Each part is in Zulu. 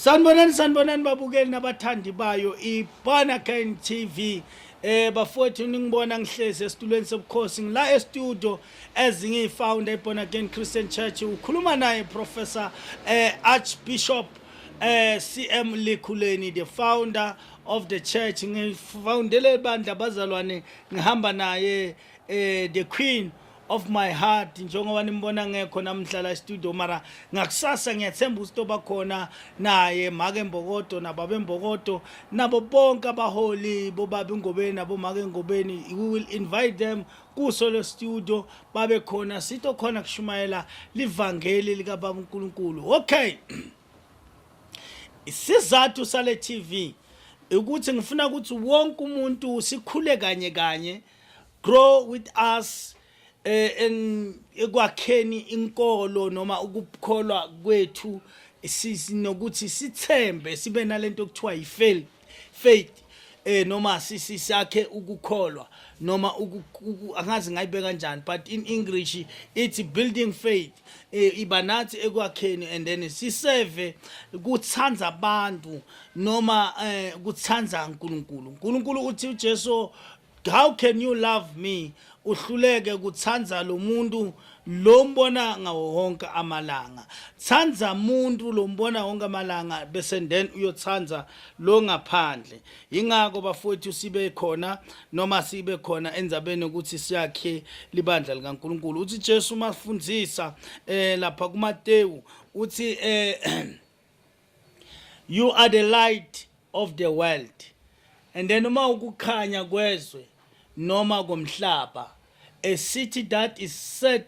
Sanibonani sanibonani babukeli nabathandi bayo iBonakane TV eh bafowethu ningibona ngihlezi esitulweni sobukhosi ngila e-studio as ngiyifounder iBonakane Christian Church ukhuluma naye Professor eh Archbishop eh CM Likhuleni the founder of the church ngifoundele ibandla bazalwane ngihamba naye eh the queen of my heart njengoba nimbona ngekho namhla la studio mara ngakusasa ngiyathemba ukuthi oba khona naye make mbokodo nababe mbokodo nabo bonke abaholi bobabe ngobeni nabo make ngobeni we will invite them kuso le studio babe khona sitho khona kushumayela livangeli lika baba uNkulunkulu okay isizathu sale TV ukuthi ngifuna ukuthi wonke umuntu sikhule kanye kanye grow with us eh en ekwakheni inkolo noma ukukholwa kwethu sinokuthi sithembe sibe nalento okuthiwa yifaith faith eh noma sisi sakhe ukukholwa noma angazi ngayibeka kanjani but in english it's building faith eh, iba nathi ekwakheni and then siseve kuthanda abantu noma eh, kuthanda uNkulunkulu uNkulunkulu uthi uJesu how can you love me uhluleke kuthanda lo muntu lo mbona ngawo wonke amalanga thanda muntu lo mbona wonke amalanga bese then uyothanda lo ngaphandle yingakho bafowethu sibe khona noma sibe khona enzabeni ukuthi siyakhe libandla likaNkuluNkulu uthi Jesu masifundisa eh lapha kuMateyu uthi eh you are the light of the world and then uma ukukhanya kwezwe noma komhlaba a city that is set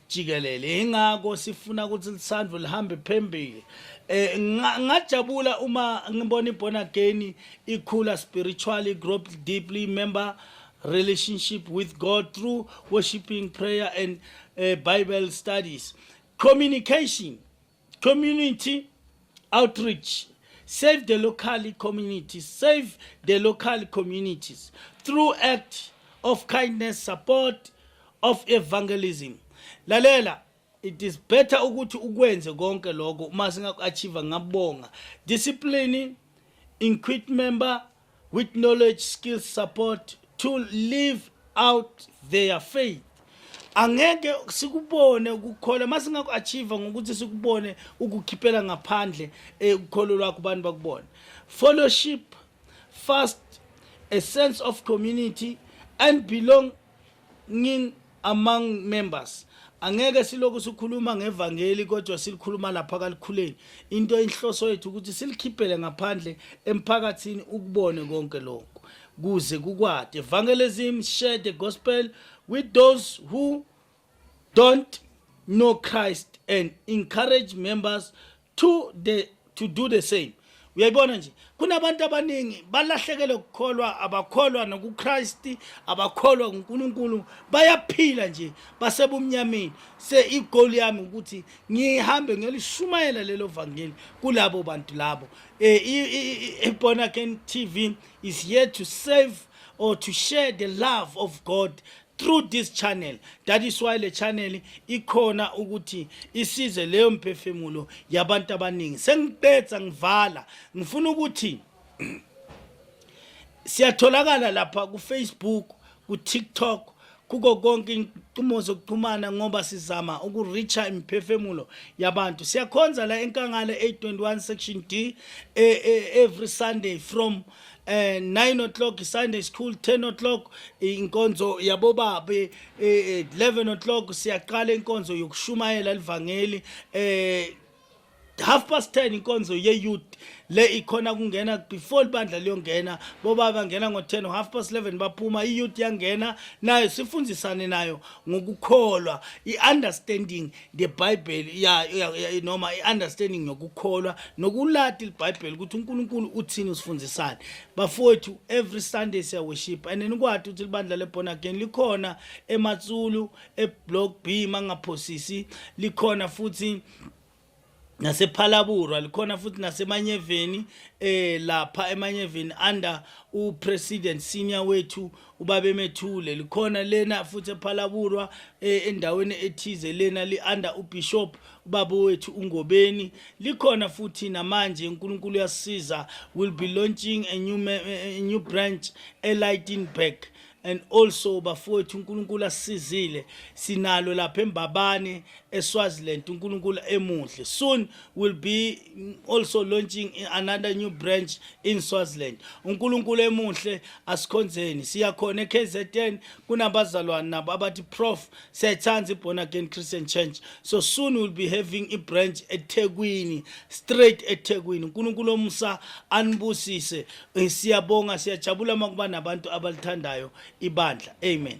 jikelele ingakho sifuna ukuthi lisandvo lihambe phembili eh ngajabula uma ngibona iborn again ikhula spiritually grow deeply member relationship with God through worshiping prayer and uh, Bible studies communication community outreach save the local community save the local communities through act of kindness support of evangelism lalela it is better ukuthi ukwenze konke lokho uma singaku-achieve ngabonga discipline inquit member with knowledge skills support to live out their faith angeke sikubone ukukhola masingaku achieve ngokuthi sikubone ukukhiphela ngaphandle eh, ukholo lwakho abantu bakubone fellowship fast a sense of community and belong ngin among members angeke silokhu sikhuluma ngevangeli kodwa silikhuluma lapha kalikhuleni into enhloso yethu ukuthi silikhiphele ngaphandle emphakathini ukubone konke lokho kuze kukwade evangelism share the gospel with those who don't know Christ and encourage members to the to do the same uyayibona nje kunabantu abaningi balahlekele ukukholwa abakholwa nokuKristu abakholwa kuNkulunkulu bayaphila nje basebumnyameni se igoal yami ukuthi ngihambe ngelishumayela lelo vangeli kulabo bantu labo eh born again tv is here to save or to share the love of god through this channel that is why le channel ikhona ukuthi isize leyo mphefumulo yabantu abaningi sengiqedza ngivala ngifuna ukuthi siyatholakala lapha kufacebook kutiktok kuko konke inqumo zokuxhumana ngoba sizama ukureacha imphefemulo yabantu siyakhonza la enkangala 821 section d e, e, every sunday from eh 9 o'clock Sunday school 10 o'clock inkonzo yabobabe eh 11 o'clock siyaqala inkonzo yokushumayela elivangeli eh half past 10 inkonzo ye youth le ikhona kungena before ibandla liyongena boba bangena ngo-10 half past 11 baphuma iyouth yangena nayo sifundisane nayo ngokukholwa i-understanding ngebhayibheli ya noma i-understanding yokukholwa nokulati libhayibheli ukuthi unkulunkulu uthini usifundisani bafowethu every sunday siyaworship and nikwati ukuthi libandla le-born again likhona ematsulu eblock b mangaphosisi likhona futhi nasephalabura likhona futhi nasemanyeveni eh lapha emanyeveni under upresident senior wethu ubabemethule likhona lena futhi ephalaburwa eh, endaweni ethize lena li-under ubishop ubaba wethu ungobeni likhona futhi namanje unkulunkulu uyasisiza will be launching a new, eh, a new branch elightenburg and also bafowethu uNkulunkulu asisizile sinalo lapha eMbabane eSwaziland uNkulunkulu emuhle soon will be also launching another new branch in Swaziland uNkulunkulu emuhle asikhonzeni siya khona eKZN kunabazalwane nabo abathi prof sethanda iborn again Christian church so soon we'll be having a branch eThekwini straight eThekwini uNkulunkulu omusa anibusise eh, siyabonga siyajabula makuba nabantu abalithandayo ibandla amen